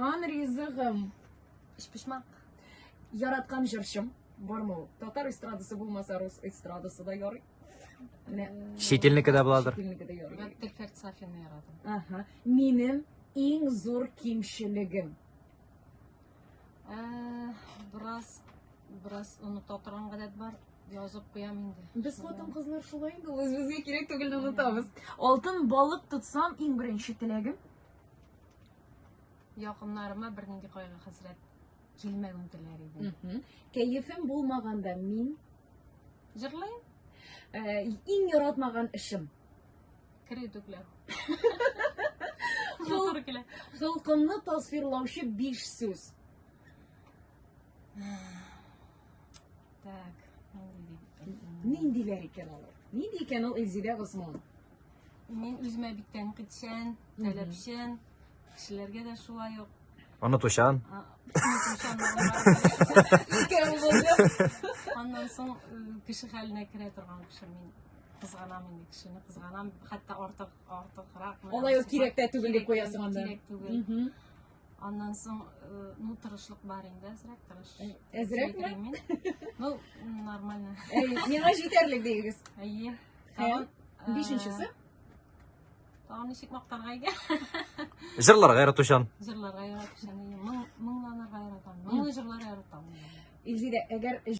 Ан ризыгым. Эшпишмак. Яраткан җырчым. Бармы ул? Татар эстрадасы булмаса, рус эстрадасы да ярый. Менә. Шетелнеке дә буладыр. Шетелнеке дә ярый. Мин Перфект Сафины яратам. Ага. Минем иң зур кимчелегем. Э, Бераз бераз оныта торган гадәт бар. Язып куям инде. Без хатын-кызлар шулай инде, ул үзебезгә кирәк түгелне онытабыз. Алтын балык тотсам, иң беренче теләгем Якыннарыма бернинди кайгы хәсрәт килмәвен теләр идем. Кәефем булмаганда мин җырлыйм. Э, иң яратмаган эшем. Кер итүкләр. Зур килә. Холкымны тасвирлаучы биш сүз. Так, ниндиләр икән алар? Нинди икән ул Эльзидә Госман? Мин үземә бик тәнкыйтьчән, таләпчән, кешеләргә дә шулай ук. Онытучан. А, онытучан Аннан соң э, кеше хәленә керә торган кеше мин кызганам инде кешене кызганам хәтта артык артыграк Алай ук кирәк тә түгел дип куясың анда. Кирәк түгел. Аннан соң, э, ну, тырышлык бар инде, әзрәк тырыш. Э, әзрәкме? Сөйләмим. Ну, м, нормально. Әй, Миңа җитәрлек дигез. Әйе. Тагын, э, Бишенчесе? Тагын ничек мактарга икән? Җырларга яратучан. Җырларга яратучан. Моң, моңланырга яратам. Моңлы җырлар яратам. Илзирә, әгәр